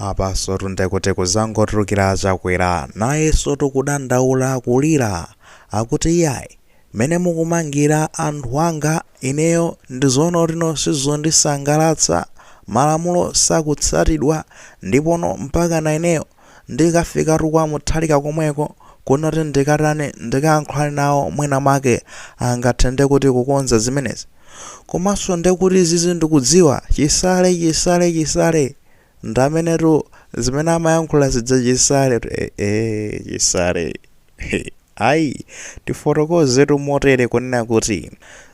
Apansotu nde kuti zangotulukira Chakwera nayensotu kudandaula kulira akuti iyayi mmene mukumangira anthu anga ineyo ndi zoona kutino sizondisangalatsa malamulo sakutsatidwa ndipono mpakana ineyo Ndikafikatu kwa Mutharika komweko, kunakuti ndikatani, ndikayankhulane nawo mwina mwake angathe nde kuti kukonza zimenezi. Komanso nde kuti izizi ndikudziwa, Chisale, Chisale, Chisale! Ndi mmenetu zimene amayankhula zija Chisaletu eeh Chisale. Ayi, tifotokozetu motere kunena kuti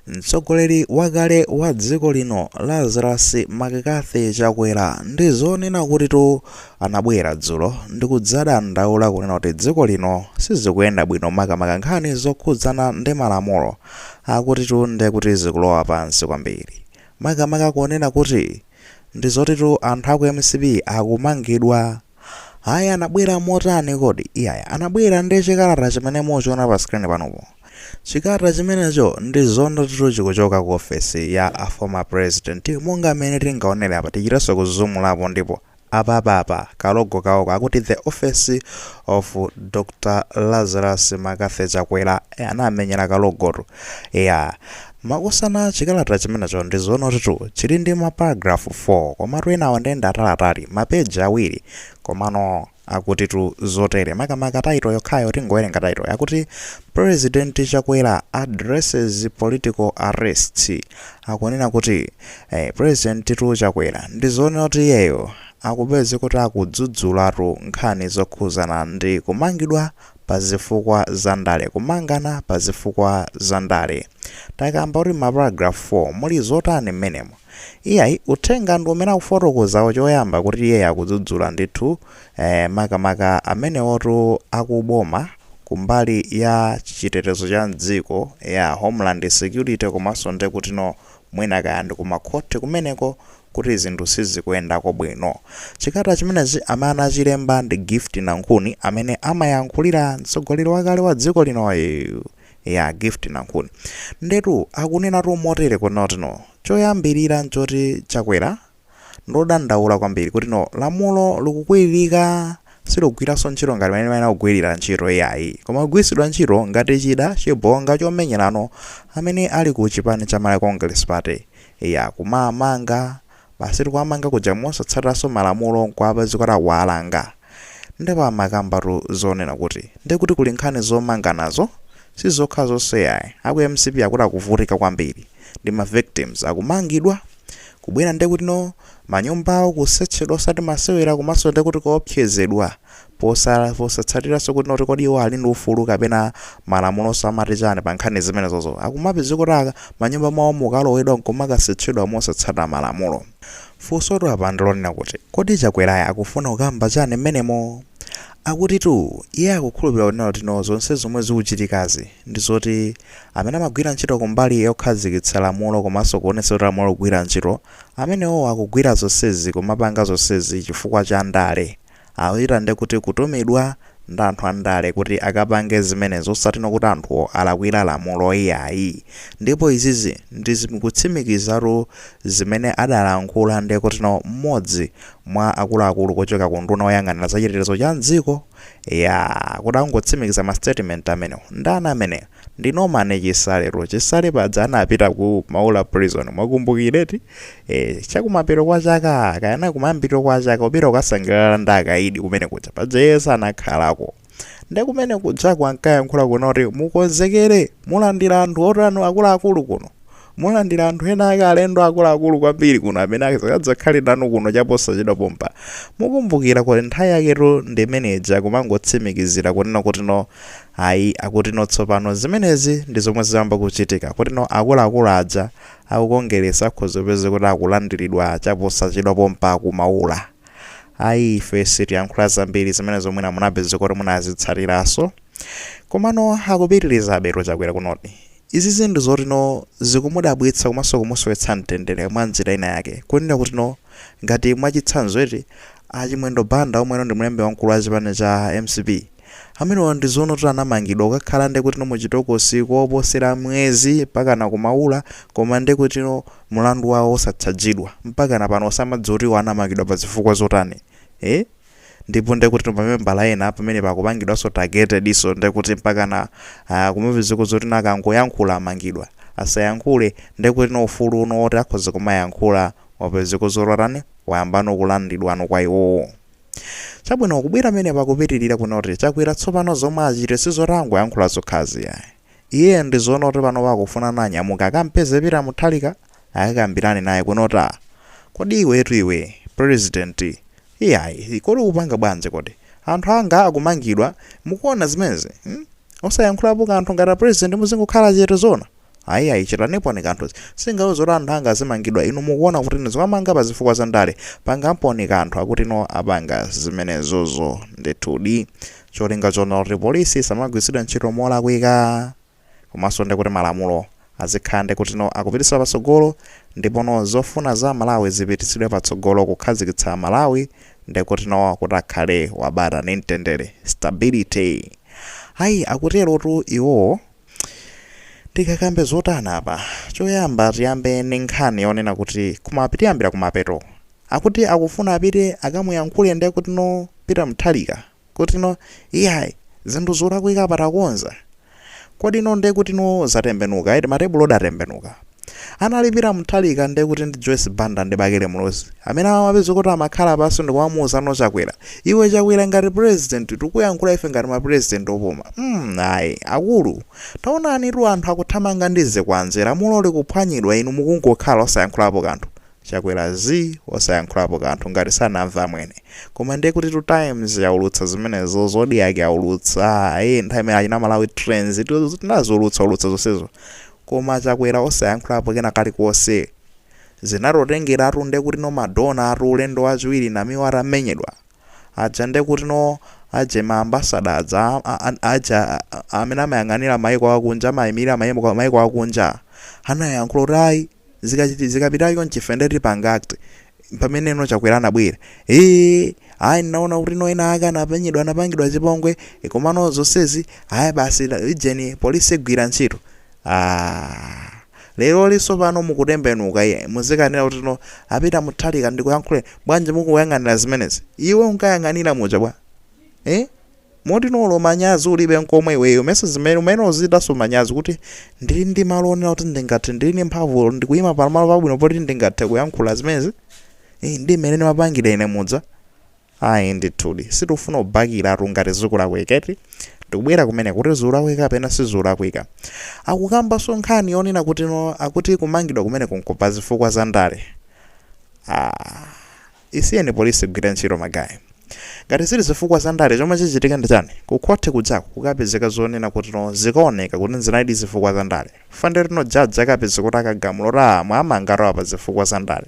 mtsogoleri wakale wa dziko lino Lazarus McCarthy Chakwera ndi zoona kutitu anabwera dzulo ndi kudzadandaula kunena kuti dziko lino sizikuyenda bwino makamaka nkhani zokhudzana ndi malamulo akutitu nde kuti zikulowa pansi kwambiri makamaka kunena kuti ndi zotitu anthu aku MCP akumangidwa Ayi anabwera motani kodi? Iyayi anabwera ndi chikalata chimene muchiona pa screen panupo. Chikalata chimenecho ndi zoona kutitu chikuchoka ku ofesi ya a former president monga mmene tingaonere apa tichitenso kuzumulapo ndipo apapa apa ka logo kawo ka akuti the office of Dr Lazarus McCarthy Chakwera anamenyera ka logotu eya Makosana chikalata chimenecho ndi zoona kutitu chili ndi ma paragraph 4 komatu enawo nde ndi ataliatali ma page awiri komano akutitu zotere makamaka title yokhayo tingowerenga title yakuti President Chakwera Addresses Political Arrests akunena kuti eh, Prezidentitu Chakwera ndi zoona kuti iyeyo akupeze kuti akudzudzulatu nkhani zokhuzana ndi kumangidwa pa zifukwa za ndale. Kumangana pa zifukwa za ndale. Takamba kuti ma paragraph 4 muli zotani mmenemo? Iyayi, uthenga ndi umene akufotokozawo choyamba kuti iyeyo akudzudzula ndithu eh, makamaka amenewotu akuboma kumbali ya chitetezo cha mdziko, yeah, homeland security komanso ndekutino Mwina kaya ndi kumakhoti kumeneko kuti zinthu sizikuyendako bwino. Chikalata chimenechi amene anachilemba ndi Gift Nankhuni amene amayankhulira mtsogoleri wakale wa dziko linoyu. Ya Gift Nankhuni. Ndetu akunenatu motere kutino. Choyambirira n'choti Chakwera Ndodandaula kwambiri kutino lamulo likukwiririka silikugwiranso ntchito ngati mmene limayenera kugwirira ntchito iyayi koma kugwiritsidwa ntchito ngati chida chibonga chomenyera ano amene ali ku chipani cha Malawi Congress Party eya kumamanga basitu kuwamanga kuja mosatsatiranso malamulo nkuwapeza kuti akuwalanga ndipo amakambatu zonena kuti nde kuti kuli nkhani zomanganazo sizokha zonse ayi aku MCP akuti akuvutika kwambiri ndi ma victims akumangidwa kubwera ndekutino manyumbawo kusetchedwa osati masewera komanso ndekuti kuopsezedwa posatsa posatsatiranso kuti noti kodi iwo ali ndi ufulu kapena malamulo amati chani pa nkhani zimenezozo akumapezeka kuti aa manyumba mwawo mukalowedwa nkumakasetchedwa mosatsata malamulo funsotu apa ndilonena kuti kodi chakwerayo akufuna kukamba chani mmenemo Akutitu iye akukhulupirira kuti nayetu zotino zonse zomwe zikuchitikazi ndi zoti amene amagwira ntchito kumbali yokhazikitsa lamulo komanso kuonetsetsa kuti lamulo likugwira ntchito, amenewowo akugwira zonsezi kumapanga zonsezi chifukwa cha ndale. Akuchita ndekuti kutumidwa ndi anthu andale kuti akapange zimenezi osatino kuti anthuwo alakwira lamulo iyayi. Ndipo izizi ndi zikutsimikizatu zimene adalankhula ndekutino mmodzi mwa akuluakulu kuchoka ku unduna woyang'anira za chitetezo cha mdziko eyaa kuti angotsimikiza ma statement amenewo. Ndani ameneyo? Ndi Norman Chisaletu. Chisale paja anapita ku Maula prison mwakumbukira eti? Eeh chakumapeto kwa chaka kapena kumayambiriro kwa chaka kupita kukasangalala ndi akaidi kumene kuja paja iye sanakhalako. nde kumene kujaku ankayankhula kunena kuti mukonzekere mulandira anthu otani akuluakulu kuno mulandira anthu ena ake alendo akuluakulu kwambiri kuno amene akadzakhale nanu kuno chaposachedwa pompa mukumbukira kuti nthawi yaketu ndi imene ija kumangotsimikizira kunena kutino ayi akutino tsopano zimenezi ndi zomwe ziyamba kuchitika kutino akuluakulu aja aku Kongeresi akhoza kupezeka kuti akulandiridwa chaposachedwa pompa ku Maula Ayi ife sitiyankhula zambiri zimenezo mwina munapeza kuti munazitsatiraso. Komano akupitirizabetu Chakwera kunoti izizi ndi zotino zikumudabwitsa komanso kumusowetsa mtendere mwa njira ina yake. Kunena kutino ngati mwachitsanzo eti, a Chimwendo Banda omweno ndi mlembi wamkulu wa chipani cha mcp, amenewa ndi zonoti anamangidwa kukakhala ndekutino muchitokosi koposera mwezi mpakana ku Maula koma ndekutino mulandu wawo osachajidwa mpakana pano osamadziwa kuti iwo anamangidwa pazifukwa zotani ee ndipo ndekutino ma membala ena pamenepa akupangidwaso targeted so ndekuti mpakana aa kumapezeka zotino akangoyankhula amangidwa asayankhule ndekutino ufulu uno woti akhoza kumayankhula wapezeka zoti watani wayambano kulandidwano kwa iwowo. Chabwino kubwera pamenepa akupitirira kunoti Chakwera tsopano zomwe achite sizoti angoyankhula zokhazi ayi. Iyeyo ndi zonoti panopa akufuna anyamuke akampeze Peter Mutharika akakambirane naye kunoti kodi iwetu iwe president iyayi kodi ukupanga bwanji kodi anthu anga akumangidwa mukuona zimenezi hmm? Osayankhulapo kanthu ngati a president muzingokhala chete zona. Ayi ayi chitaniponi kanthu. Singauze kuti anthu anga azimangidwa inu mukuona kuti niziwamanga pa zifukwa za ndale. Pangamponi kanthu akuti no apanga zimenezozo ndithudi. Cholinga chonena kuti police isamagwiritsidwe ntchito molakwika komanso ndi kuti malamulo azikhala ndi kuti no akupititsidwa patsogolo ndipo no zofuna za Amalawi zipititsidwe patsogolo kukhazikitsa Malawi ndi kuti no kuti akhale wabata ndi mtendere, stability. Ayi akuterotu iwowo. Tikakambe zotani apa? Choyamba tiyambe ndi nkhani yonena kuti kumap tiyambira kumapeto. Akuti akufuna apite akamuyankhule ndi kuti no Peter Mutharika kuti no iyayi zinthu zolakwika apa takonza. Kodi no ndiye kuti no zatembenuka eti matebulotu atembenuka. anali peter mutharika nde kuti ndi joyce banda ndi bakili muluzi amene amapezeka kuti amakhala pansi ndikumamuuza no chakwera iwe chakwera ngati president tikuyankhula ife ngati mapresident opuma mm, ayi akulu taonanitu anthu akuthamanga ndi zikwanje lamulo likuphwanyidwa inu mukungokhala osayankhulapo kanthu chakwera zii osayankhulapo kanthu ngati sanamve amwene koma ndiye kutitu times yaulutsa zimenezo zodiak yaulutsa ayi nthawi imene achina malawi trends tinaziulutsa ulutsa zonsezo koma achakwera osayankhulapo kena kalikonse zinatotengeratu ndekutino madona atu ulendo wachiwiri namiwa atamenyedwa aja ndekutino aje ma ambassador aja a- a- aja a- a- amene amayang'anira maiko akunja amayimirira maiko akunja anayankhula kuti ayi Zikachiti zikapita chonchi ife nde tipanga act mpameneno chakwera anabwera ee ayi ndinaona kutino ena ake anamenyedwa anapangidwa chipongwe komano zonsezi ayi basi la- ujeni polisi igwira ntchito aah leroli tsopano mukutembenuka iye muzikanena kutino a peter mutharika ndikuyankhule bwanji mukuyang'anira zimenezi iwe unkayang'anira muja bwa ee Motino olo manyazi ulibe nkomwe iweyo mesa zimene umene uzichitanso manyazi kuti ndili ndi malo onena kuti ndingathe ndili ndi mphamvu olo ndikuyima pa malo pabwino poti ndingathe kuyankhula zimenezi ii ndi mmene ndimapangira ine muja ayi ndithudi sitikufuna kubakiratu ngati zikulakwika eti ndikubwera kumene kuti zikulakwika kapena sizikulakwika akukambanso nkhani yonena kutino akuti kumangidwa kumeneko nkwa pa zifukwa za ndale aah Isiyeni police igwire ntchito magaye. Ngati zili zifukwa za ndale chomwe chichitike ndi chani? Ku khoti kujaku kukapezeka zonena kuti no zikaoneka kuti nzinalidi zifukwa za ndale. Chifukwa ndekuti no judge akapeza kuti akagamula kuti aah mwamangatu awa pa zifukwa za ndale.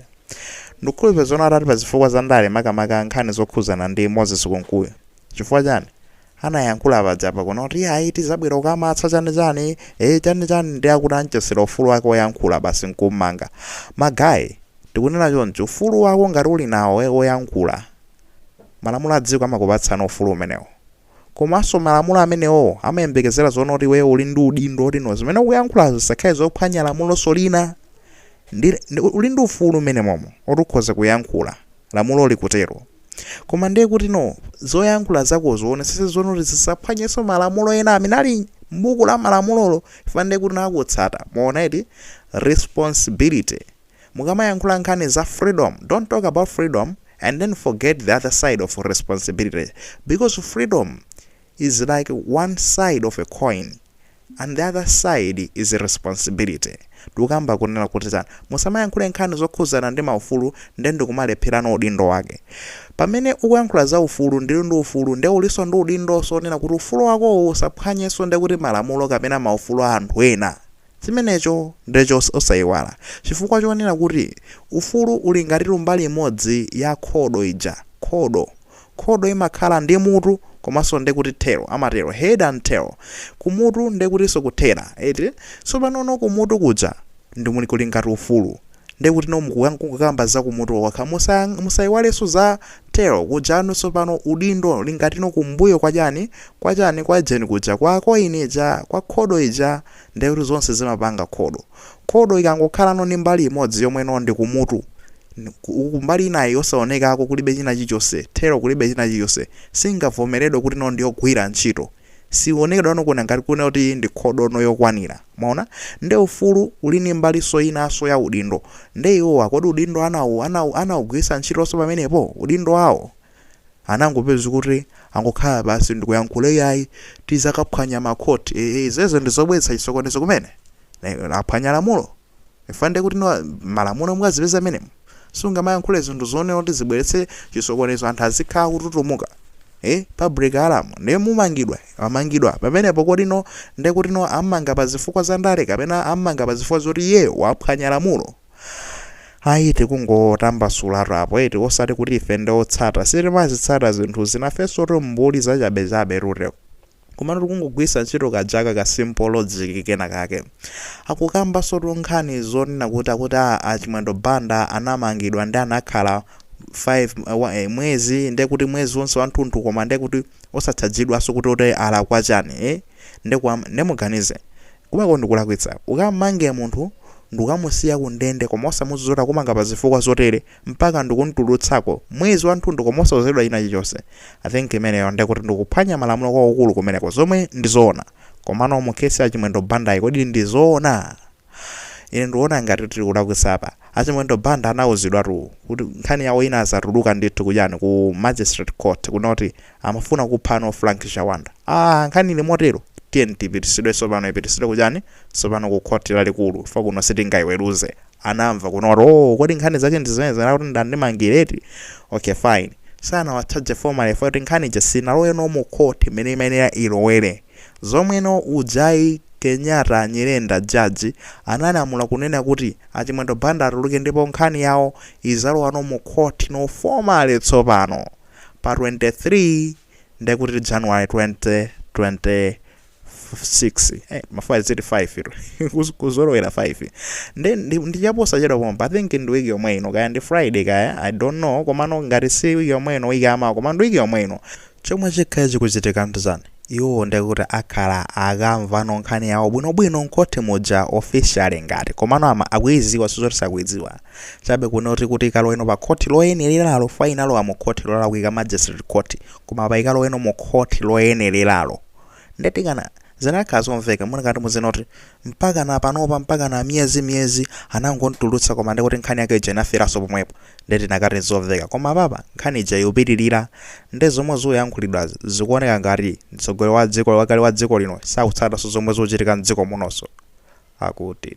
Ndikukhulupira zoona atati pa zifukwa za ndale makamaka nkhani zokhuzana ndi Moses Kunkuyu. Chifukwa chani? anayankhula paja pakuno kuti ayi tizabwera kukamatsa chani chani eh chani chani ndi akuti anchotsera ufulu wake oyankhula basi nkummanga magayi tikunena chonchi ufulu wako ngati uli nawo eh, oyankhula malamulo a dziko amakupatsano ufulu umenewo komanso malamulo amenewo amayembekezera zonena kuti iweyo uli ndi udindo oti no zimene ukuyankhula zisakhale zophwanya lamulonso lina ndi, ndi, uli ndi ufulu mmenemomo oti ukhoza kuyankhula lamulo likutero. Koma ndiye kuti no, zoyankhula zakozo uonetsetse zonena kuti zisaphwanyenso malamulo ena amene ali m'buku la malamulolo chifukwa ndiye kuti no akutsata. Mwaona eti? Responsibility. Mukamayankhula nkhani za freedom, don't talk about freedom and then forget the other side of responsibility because freedom is like one side of a coin. and the other side is responsibility tikukamba kunena kuti chani musamayankhule nkhani zokhudzana ndi maufulu nde ndikumalepherano udindo wake pamene ukuyankhula za ufulu ndili ndi ufulu nde ulinso ndi udindonso onena kuti ufulu wakowo usaphwanyenso ndekuti malamulo kapena maufulu a anthu ena chimenecho ndecho osaiwala chifukwa chonena kuti ufulu uli ngatitu mbali imodzi ya khodo ija khodo Khodo imakhala ndi mutu komanso nde kuti tail, amatero, head and tail. Kumutu nde kutinso kuthera, eti? Tsopanono kumutu kuja ndi kumene kuli ngati ufulu. Nde kutino mukuka- kungokamba za kumutu kokha. Musayang- musaiwalenso za tail kujano tsopano udindo uli ngatino kumbuyo kwa chani, kwa chani, kwa ujeni kuja, kwa coin ija, kwa khodo ija, nde kuti zonse zimapanga khodo. Khodo ikangokhalano ndi mbali imodzi yomwe no ndi kumutu, uku mbali inayi yosaonekako kulibe china chilichonse, thero kulibe china chilichonse, singavomeredwe kuti no ndi yogwira ntchito. Sionekedwano kuoneka ngati kunena kuti ndi khodo no yokwanira. Mwaona? Nde ufulu uli ndi mbalinso inanso ya udindo. Nde iwowa kodi udindo anawu, anawu, anaugwiritsa ntchitonso pamenepo? Udindo wawo? anangopeza kuti angokhala pansi ndikuyankhula iyayi tizakaphwanya ma court ee izozo ndizobweretsa chisokonezo kumene aphwanya lamulo chifukwa ndekuti no malamulo mukazipeza mmenemu sungamayankhule zinthu zonena kuti zibweretse chisokonezo anthu azikhala kututumuka eh public alarm ndiye mumangidwa amangidwa pamenepo kodi no ndekuti no ammanga pa zifukwa za ndale kapena ammanga pa zifukwa zoti iyeyo waphwanya lamulo ayi tikungotambasulatu apo eti osati kuti ife ndi otsata sitimazitsata zinthu zina ifensotu mbuli zachabechabe rute komano tikungogwiritsa ntchito kajaka ka simple logic kena kake akukambansotu nkhani zonena kuti akuti a a chimwendo banda anamangidwa nde anakhala 5 wa- eh, mwezi ndiye kuti mwezi wonse wanthunthu koma ndiye kuti osatchajidwanso kuti kuti alakwa chani eh? nde kwa amene amuganize kumeneko ndikulakwitsa ukamange munthu ndukamusiya ku ndende koma osamuuza zoti kumanga pa zifukwa zotere mpaka ndikumtulutsako mwezi wathunthu koma osauzidwa china chilichonse i think imeneyo ndekut ndikuphwanya malamulo kwakukulu kumeneko zomwe ndizoona komano mu case ya chimwendo bandayi kodi ndizoona? Ine ndiona ngati tili kulakwitsa apa. A Chimwendo Banda anauzidwatu kuti nkhani yawo inadzatuluka ndithu ku chani ku Magistrate Court kunena kuti amafuna kuphano Frank Chawanda. Aaa nkhani ili motero tiyeni ipitisidwe tsopano ipitisidwe ku chani tsopano ku Court lalikulu chifukwa kuno sitingaiweruze. Anamva kunena kuti oo kodi nkhani zake ndi zimenezi ndekuti andimangira eti? Okay fine. Sanawatchaje formally chifukwa choti nkhani ija sinalowe no mu court imene imayenera ilowere. Zomweno ujayi Kenyatta Nyirenda Judge analamula kunena kuti a Chimwendo Banda atuluke ndipo nkhani yawo izalowano mu court no formally tsopano pa 23 ndekuti January 2026 eh ma 5 ziti 5 tu Kuz- kuzolowera 5 nde ndi- ndi chaposachedwa pompa I think ndi wiki yomwe ino kaya ndi Friday kaya I don't know komano ngati si wiki yomwe ino wiki yamawa koma ndi wiki yomwe ino Chomwe chikhale chikuchitika ndchan? Iwowo ndekut akhala akamvano nkhani yawo bwinobwino mkhothi muja officially ngat komano ama akuidziwa sizot sakuidziwa chabe kunoti kuti ikaloweno pa khothi loyenereralo fwa inalowa mukhothi lolakwika magistrate court koma apa ikaloweno mukhothi loyenereralo nde tikana zinakhala zomveka munakati muzinena zoti mpakana panopa mpakana miyezi miyezi anangomtulutsa koma ndikuti nkhani yake ija inaferanso pomwepo nde tinakati nzomveka koma apapa nkhani ija ikupitirira nde zomwe zikuyankhulidwazi zikuoneka ngati mtsogoleri wa dziko wakale wa dziko lino sakutsatanso zomwe zikuchitika mdziko munonso akuti